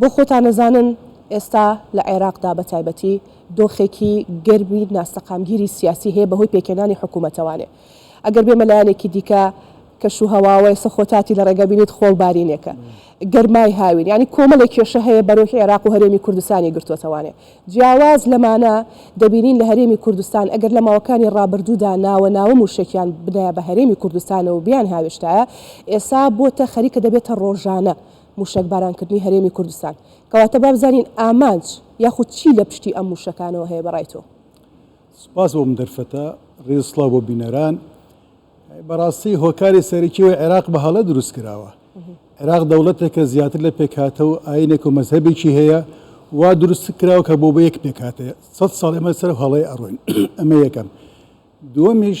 بۆ خۆتان ئەزانن ئێستا لە عێراقدا بە تایبەتی دۆخێکی گەرمی ناسەقامگیری سیاسی هەیە بەهۆی پێکهێنانی حکوومەتەوانێ ئەگەر بێمە لایەنێکی دیکە کەش و هەواوە ئێستا خۆتاتی لە ڕێگە بینیت خۆڵ بارینێکە گەرمای هاوین یانی کۆمەڵێک کێشە هەیە بەرۆکی عێراق و هەرێمی کوردستانی گرتووەتەوانێ جیاواز لەمانە دەبینین لە هەرێمی کوردستان ئەگەر لە ماوەکانی ڕابردوودا ناوە ناوە مووشەکیان بدایە بە هەرێمی کوردستانەوە بیان هاوێشتایە ئێسا بۆتە خەریکە دەبێتە ڕۆژانە مووشەکبارانکردنی هەرێمی کوردستان. کەواتە با بزانین ئامانج یاخود چی لە پشتی ئەم مووشەکانەوە هەیە بە ڕای تۆ؟ سپاس بۆ ئەم دەرفەتە، ڕێز و سڵاو بۆ بینەران. بەڕاستی هۆکاری سەرەکی ئەوەی عێراق بە هەڵە دروست کراوە. عێراق دەوڵەتێکە زیاتر لە پێکهاتە و ئایینێک و مەزهەبێکی هەیە، وا دروست کراوە کە بۆ بە یەک پێکهاتە. سەد ساڵ ئێمە لەسەر ئەو هەڵەیە ئەڕۆین. ئەمە یەکەم. دووەمیش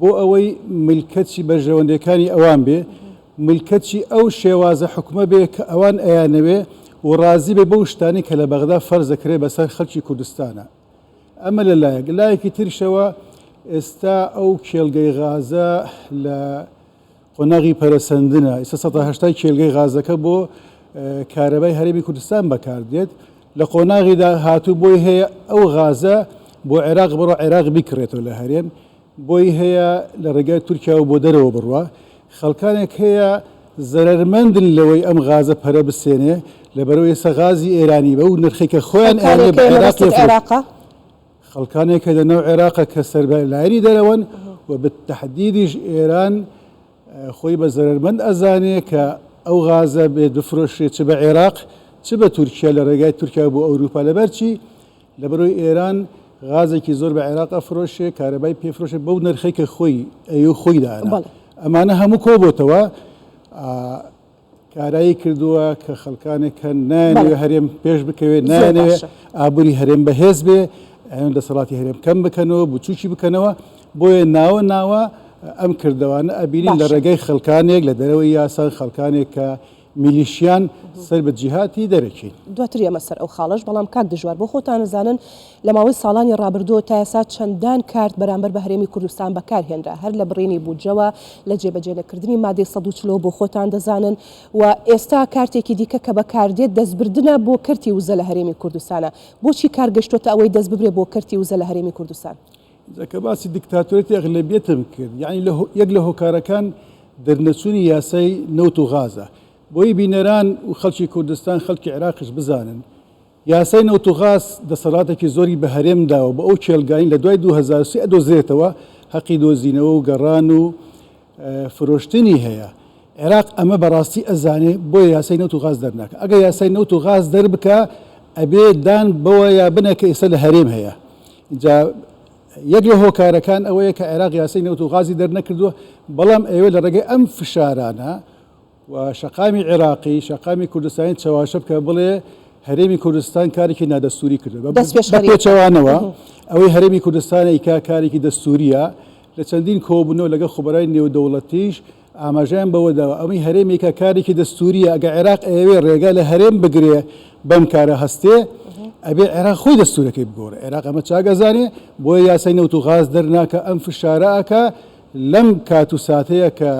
بۆ ئەوەی ملکەچی بەرژەوەندیەکانی ئەوان بێ، ملکەچی ئەو شێوازە حوکمە بێ کە ئەوان ئەیانەوێ و ڕازی بێ بەو شتانەی کە لە بەغدا فەرز دەکرێ بەسەر خەلکی کوردستانا. ئەمە لە لایەک. لایەکی تریشەوە ئێستا ئەو کێڵگەی غازە لە. قۆناغی پەرەسەندنە، ئیستا سەتا هەشتای کێلگەی غازەکە بۆ کارەبای هەرێمی کوردستان بەکاردێت، لە قۆناغی داهاتوو بۆی هەیە ئەو غازە بۆ عێراق بڕوا، عێراق بیکڕێتەوە لە هەرێم، بۆی هەیە لە ڕێگای تورکیاوە بۆ دەرەوە بڕوا، خەڵکانێک هەیە زەرەرمەندن لەوەی ئەم غازە پەرە بستێنێ، لەبەرئەوەی ئێستا غازی ئێرانی بەو نرخەی کە خۆیان ئەیانەوێ بە عێراق یەفرۆشن. خەڵکانێک کە لە ناو عێراقە کە سەربە لایەنی دەرەوەن و بە تەحدیدیش ئێران خۆی بە زەرەرمەند ئەزانێ کە ئەو غازە بێت بفرۆشرێت چ بە عێراق چ بە تورکیا لە ڕێگای تورکیا بۆ ئەوروپا لەبەرچی لەبەرۆی ئێران غازێکی زۆر بە عێراق ئەفرۆشێ کارەبای پێفرۆشێ بەو نرخێکە خۆی ئەو خۆی داە ئەمانە هەموو کۆبتەوە کارایی کردووە کە خەڵکانێک هەن نایانەوێت هەرێم پێش بکەوێت، نایانەوێت ئابووری هەرێم بەهێز بێت، ئەیانەوێت دەسەڵاتی هەرێم کەم بکەنەوە، بچووکی بکەنەوە، بۆیە ناوە ناوە ئەم کردەوانە ئەبینین لە ڕێگای خەڵکانێک لە دەرەوەی یاسان، خەڵکانێک کە میلیشیان سەر بە جیهاتی دەرەکین. دواتر یەمە سەر ئەو خاڵەش، بەڵام کاک دژوار بۆ خۆتان ئەزانن لە ماوەی ساڵانی ڕابردوو تا ئێستا چەندان کارت بەرامبەر بە هەرێمی کوردستان بەکار هێنرا، هەر لە بڕینی بودجەوە، لە جێبەجێ نەکردنی مادەی سەد و چلەوە بۆ خۆتان دەزانن و ئێستا کارتێکی دیکە کە بەکار دێت دەستبردنە بۆ کەرتی وزە لە هەرێمی کوردستانە، بۆچی کار گەشتۆتە ئەوەی دەست ببرێ بۆ کەرتی وزە لە هەرێمی کوردستان؟ جا کە باسی دیکتاتۆریەتی ئەغلەبیەتم کرد، یەعنی لە یەک لە هۆکارەکان دەرنەچوونی یاسای نەوت و غازە، بۆیی بینەران و خەڵکی کوردستان، خەڵکی عێراقیش بزانن، یاسای نەوت و غاز دەسەڵاتێکی زۆری بە هەرێم داوە بۆ ئەو کێڵگانەی لە دوای دوو هەزار و سێ ئەدۆزرێتەوە هەقی دۆزینەوە و گەڕان و فرۆشتنی هەیە، عێراق ئەمە بە ڕاستی ئەزانێ بۆیە یاسای نەوت و غاز دەرناکا، ئەگەر یاسای نەوت و غاز دەربکا ئەبێ دان بەوەیا بنێ کە ئێستا لە هەرێم هەیە، ئینجا یەک لە هۆکارەکان ئەوەیە کە عێراق یاسای نەوت و غازی دەرنەکردووە، بەڵام ئێوە لە ڕێگەی ئەم فشارانە و شەقامی عێراقی، شەقامی کوردستانی چەواشە بکە بڵێ هەرێمی کوردستان کارێکی نادەستووری کردووە، بە پێچەوانەوە ئەوەی هەرێمی کوردستان ئەیکا کارێکی دەستوورییە، لە چەندین کۆبوونەوە لەگەڵ خوبەرای نێودەوڵەتیش ئاماژەیان بەوە داوە ئەوەی هەرێم ئەیکا کارێکی دەستوورییە، ئەگەر عێراق ئەیەوێ ڕێگا لە هەرێم بگرێ بەم کارە هەستێ، ئەبێ عێراق خۆی دەستوورەکەی بگۆڕێ، عێراق ئەمە چاک ئەزانێ، بۆیە یاسای نەوت و غاز دەرناکا، ئەم فشارە ئەکا لەم کات و ساتەیا کە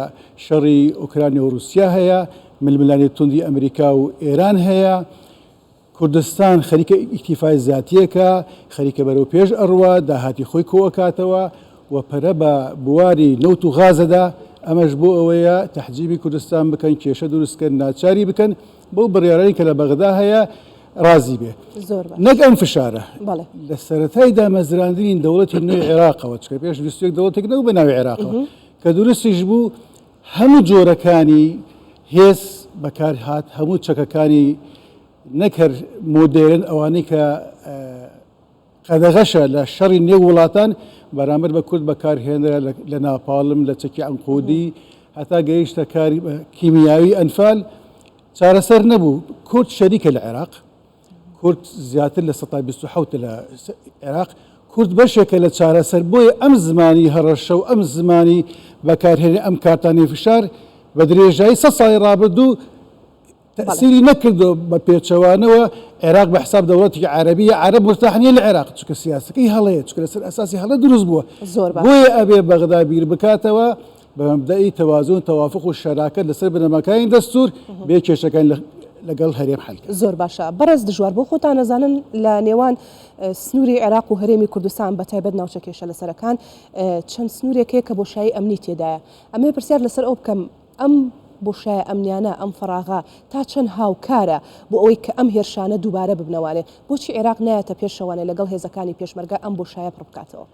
شەڕی ئۆکرانیا و ڕووسیا هەیە، ململانێ توندی ئەمریکا و ئێران هەیە، کوردستان خەریکە ئیکتیفای زاتییەکە، خەریکە بەرەو پێش ئەڕوا، داهاتی خۆی کۆئەکاتەوە و پەرە بە بواری نەوت و غاز ئەدا، ئەمەش بۆ ئەوەیە تەحجیبی کوردستان بکەن، کێشە دروست کەن، ناچاری بکەن بەو بڕیارانەی کە لە بەغدا هەیە، ڕازی بێت نەک ئەم فشارە لە سەتای دامەزراندنی دەوڵەتی نوێ عێراقەوە چکە پێش ویستێک دەوڵەتێک نەو بە ناوی عێراق کە درستیش بوو هەموو جۆرەکانی هێز بەکار هاات هەموو چەکەکانی نەکرد مۆدێرن ئەوانەی کە قەدەغەشە لە شەڕی نێو وڵاتان بەرامبەر بە کورد بەکارهێنرا لە ناپاڵم، لە چەکی عەنقودی هەتا گەیشتە کاری کیمیاوی ئەنفال چارەسەر نەبوو. کورد شەریکە لە عێراق، کورد زیاتر لە سەتا بیست و حەوت لە عێراق، کورد بەشێکە لە چارەسەر، بۆیە ئەم زمانی هەڕەشە و ئەم زمانی بەکارهێنی ئەم کارتانەی فشار بە درێژایی سەد ساڵی ڕابردوو، تەئسیری نەکردوە بە پێچەوانەوە عێراق بە حساب دەوڵەتێکی عەرەبی یە عەرەب مورتاح نیە لە عێراق چونکە سیاسەکەی هەڵەیە چونکە لەسەر ئەساسی هەڵە دروست بووە زۆر باشە بۆیە ئەبێ بەغدا بیر بکاتەوە بە مەبدەئی تەوازون تەوافق و شەراکەت لەسەر بنەماکانی دەستور بێ کێشەکان لە لەگەڵ هەرێم حەل کرد زۆر باشە بەڕێز دژوار بۆ خۆتان نەزانن لە نێوان سنووری عێراق و هەرێمی کوردستان بە تایبەت ناوچە کێشە لەسەرەکان چەند سنوورێک هەیە کە بۆشایی ئەمنی تێدایە ئەمێ پرسیار لەسەر ئەو بکەم ئەم بۆشایە ئەمنیانە، ئەم فەراغە تا چەند هاوکارە بۆ ئەوەی کە ئەم هێرشانە دووبارە ببنەوانێ؟ بۆچی عێراق نایەتە پێشەوانێ لەگەڵ هێزەکانی پێشمەرگە ئەم بۆشایە پڕ بکاتەوە؟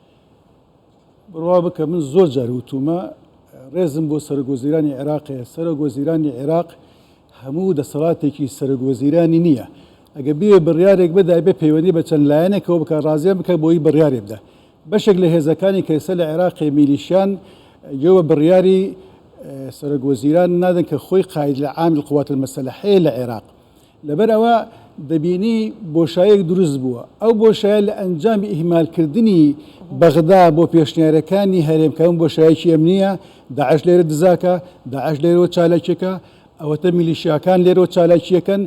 بڕوا بکە من زۆر جار وتوومە، ڕێزم بۆ سەرۆک وەزیرانی عێراق هەیە، سەرۆک وەزیرانی عێراق هەموو دەسەڵاتێکی سەرۆک وەزیرانی نییە، ئەگەر بیەوێ بڕیارێک بدا ئەبێ پەیوەندی بە چەند لایەنێکەوە بکا، ڕازیان بکا بۆی بڕیارێ بدا. بەشێک لە هێزەکانی کە ئێستا لە عێراقێ میلیشیان گوێ بە بڕیاری سەرۆک وەزیران نادەن کە خۆی قاید لە عام القوات المسلحەیە لە عێراق لەبەر ئەوە دەبینی بۆشایەک دروست بووە ئەو بۆشایە لە ئەنجامی ئیهمالکردنی بەغدا بۆ پێشنیارەکانی هەرێمکەم بۆشایەکی ئەمنیە داعش لێرە دزاکە داعش لێرەوە چالاکیەکە ئەوەتە میلیشیاکان لێرەوە چالاکیەکەن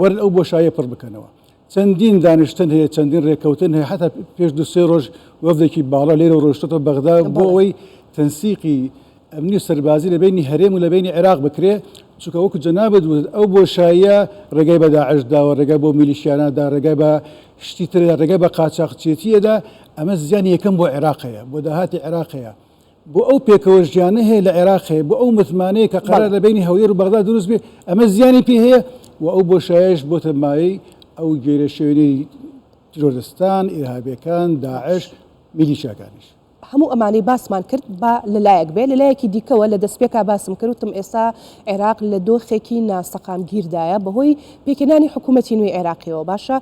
وەرن ئەو بۆشاییە پڕ بکەنەوە. چەندین دانیشتن هەیە، چەندین رێککەوتن هەیە، حەتا پێش دوو سێ رۆژ وەفدێکی باڵا لێرەوە رۆیشتۆتەوە بەغدا بۆ ئەوەی تەنسیقی ئەمنی و سەربازی لە بەینی هەرێم و لە بەینی عێراق بکرێ، چونکە وەکو جەنابت وتت ئەو بۆشاییە رێگای بە داعش داوە، رێگای بۆ میلیشیانا دا، رێگای بە شتی تر دا، رێگای بە قاچاخچێتییە دا، ئەمە زیانی یەکەم بۆ عێراق هەیە، بۆ داهاتی عێراق هەیە. بۆ ئەو پێکەوە ژیانە هەیە لە عێراق هەیە، بۆ ئەو متمانەیە کە قەرار لە بەینی هەولێر و بەغدا دروست بێ، ئەمە زیانی پێ هەیە و ئەو بۆشایەش بۆتە مایەی ئەو گێرەشێوێنەی تیرۆرستان، ئیرهابییەکان، داعش، میلیشیاکانیش. هەموو ئەمانەی باسمان کرد با لە لایەک بێ، لە لایەکی دیکەوە لە دەستپێکا باسم کرد وتم ئێستا عێراق لە دۆخێکی ناسەقامگیردایە بەهۆی پێکهێنانی حکوومەتی نوێی عێراقییەوە، باشە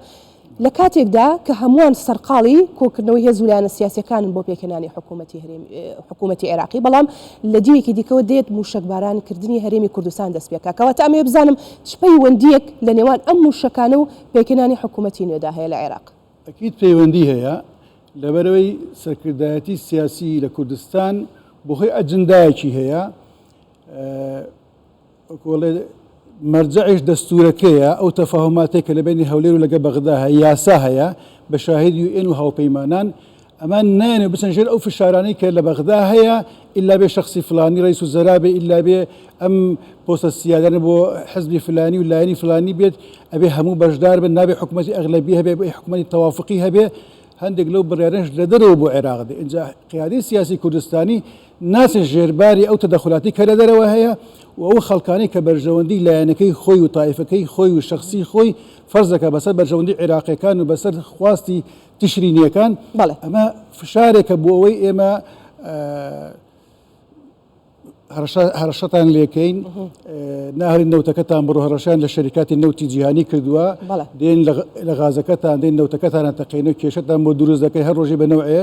لە کاتێکدا کە هەمووان سەرقاڵی کۆکردنەوەی هێز و لایەنە سیاسییەکانن بۆ پێکهێنانی حکوومەتی هەرێمی، حکوومەتی عێراقی، بەڵام لە دیوێکی دیکەوە دێت مووشەکباران کردنی هەرێمی کوردستان دەست پێ کا. کەواتە ئەمەوێ بزانم چ پەیوەندییەک لە نێوان ئەم مووشەکانە و پێکهێنانی حکوومەتی نوێدا هەیە لە عێراق؟ ئەکید پەیوەندی هەیە، لەبەرئەوەی سەرکردایەتی سیاسی لە کوردستان بە هۆی ئەجندایەکی هەیە، وەکو ئەڵێ مەرجەعیش دەستوورەکەیە، ئەو تەفاهوماتەی کە لە بەینی هەولێر و لەگە بەغدا هەیە، یاسا هەیە، بە شاهید یو ئێن و هاوپەیمانان، ئەمە نایەنێ بچن ژێر ئەو فشارانەی کە لە بەغدا هەیە، ئیلا بێ شەخسی فلانی رەیس الوزرا بێ، ئیلا بێ ئەم پۆستە سیادانە بۆ حزبی فلانی و لایەنی فلانی بێت، ئەبێ هەموو بەشدار بن، نابێ حکومەتی ئەغلەبیە هەبێ، ئەبێ حکومەتی تەوافقی هەبێ، هەندێک لەو بڕیارانەش لە دەرەوە بۆ عێراق دێ، ئینجا قیادەی سیاسی کوردستانی ناچێت ژێرباری ئەو تەدەخولاتەی کە لە دەرەوە هەیە و ئەو خەڵکانەی کە بەرژەوەندیی لایەنەکەی خۆی و تایفەکەی خۆی و شەخسی خۆی فەرز دەکات بەسەر بەرژەوەندیی عێراقییەکان و بەسەر خواستی تشرینییەکان، بەڵێ. ئەمە فشارێکە بۆ ئەوەی ئێمە هەڕەشە هەڕەشەتان لێ کەین، ناهێڵین نەوتەکەتان بڕۆ، هەڕەشەیان لە شەریکاتی نەوتی جیهانی کردووە، بەڵێ. دێن لە غازەکەتان دێن نەوتەکەتان ئەتەقێنن و کێشەتان بۆ دروست دەکەین، هەر ڕۆژێ بە نەوعێ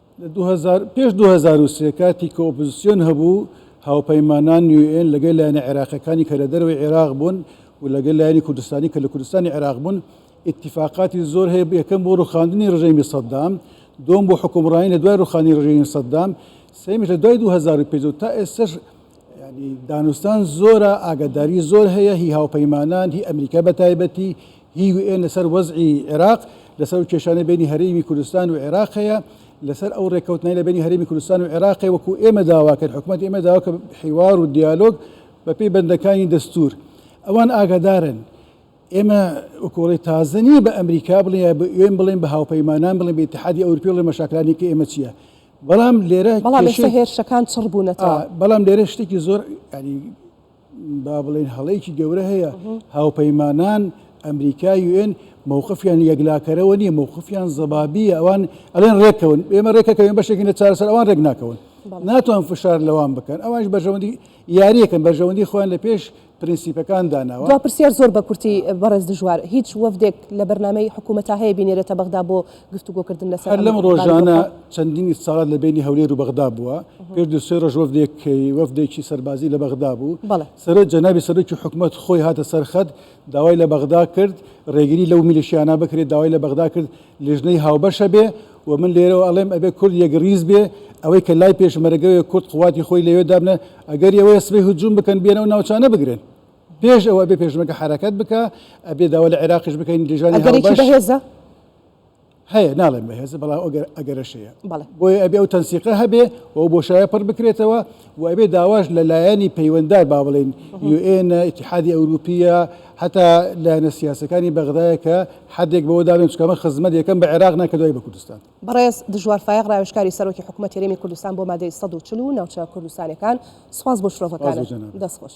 لە دوو هەزار پێش دوو هەزار و سێ کاتی کە ئۆپۆزسیۆن هەبوو، هاوپەیمانان یو ئێن لەگەل لایەنە عێراقیەکانی کە لە دەرەوەی عێراق بوون و لەگەل لایەنی کوردستانی کە لە کوردستانی عێراق بوون ئیتیفاقاتی زۆر هەیە یەکەم بۆ ڕوخاندنی ڕژێمی سەدام دووەم بۆ حکومڕانی لە دوای ڕوخانی ڕژێمی سەدام سێمیش لە دوای دوو هەزار و پێنج و تا ئێستەش یعنی دانوستان زۆرە ئاگاداری زۆر هەیە هی هاوپەیمانان هی ئەمریکا بە تایبەتی هی و ێن لەسەر وەزعی عێراق، لەسەر ئەو کێشانەی بەینی هەرێمی کوردستان و عێراق هەیە، لەسەر ئەو رێککەوتنانەی لەبەینی هەرێمی کوردستان و عێراقێ وەکو ئێمە داواکەر حکومەت ئێمە داواکەر حیوار و دیالۆگ بەپێی بەندەکانی دەستور ئەوان ئاگادارن ئێمە وەکو وڵی تازە نیە بە ئەمریکا بڵێ یا بە ئێن بڵێن بە هاوپەیمانان بڵێن بە ئتحادی ئەورپی بڵێ مەشاکلانی کە ئێمە چیە بەڵام لێرە بەڵام ئێستا هێرشەکان چڕ بوونەتەوە بەڵام لێرە شتێکی زۆر ینی با بڵێین هەڵەیەکی گەورە هەیە، هاوپەیمانان ئەمریکا یوئێن مەوقفیان یەکلاکەرەوە نییە، مەوقفیان زەبابییە، ئەوان ئەڵێن ڕێککەون، ئێمە ڕێکەکەوێن بەشێکین لە چارەسەر، ئەوان ڕێک ناکەون، ناتوان فشار لەوان بکەن، ئەوانش بەرژەوەندی یارییەکەن، بەرژەوەندی خۆیان لە پێش پرنسیپەکان داناوە. دوا پرسیار زۆر بە کورتی بەڕێز دژوار، هیچ وەفدێک لە بەرنامەی حکوومەتا هەیە بینێرێتە بەغدا بۆ گفتوگۆکردن لەسەر ئەم بارودۆخە. هەر لەم ڕۆژانە چەندین ئیستساڵات لە بەینی هەولێر و بەغدا بووە، پێش دوو سێ ڕۆژ وەفدێک وەفدێکی سەربازی لە بەغدا بوو، سەرۆ جەنابی سەرۆکی حکومەت خۆی هاتە سەر خەت داوای لە بەغدا کرد ڕێگری لەو میلیشیانە بکرێت، داوای لە بەغدا کرد لیژنەی هاوبەش هەبێ و من لێرەوە ئەڵێم ئەبێ کورد یەکڕیز بێ، ئەوەی کە لای پێشمەرەگەوێ کورد قوواتی خۆی لەوێ دابنێ، ئەگەری ئەوەیە سبەی هجووم بکەن بیەن ئەو ناوچانە بگرن، پێش ئەوە ئەبێ پێشمەرگە حەرەکەت بکا، ئەبێ داوا لە عێراقیش بکەین لیژانی هاوبەش. ئەگەرێکی بەهێزە؟ هەیە ناڵێن بەهێزە بەڵام ئەگەر ئەگەرەشەیە بۆیە ئەبێ ئەو تەنسیقە هەبێ و بۆشایە پڕ بکرێتەوە و ئەبێ داواش لە لایەنی پەیوەندار با بڵێن یوئێنە ئتیحادی ئەوروپیە هەتا لایەنە سیاسەکانی بەغدایە کە حدێک بەوە دابێن چکەمە خزمەت یەکەم بە عێراق ناکە دوای بە کوردستان بەڕێز دژوار فایق ڕاوێشکاری سەرۆکی حکوومەت تێرێمی کوردستان بۆ مادەی 140 و ناوچە کوردستانەکان سپاس بۆ شرۆڤەکان دەستخۆش.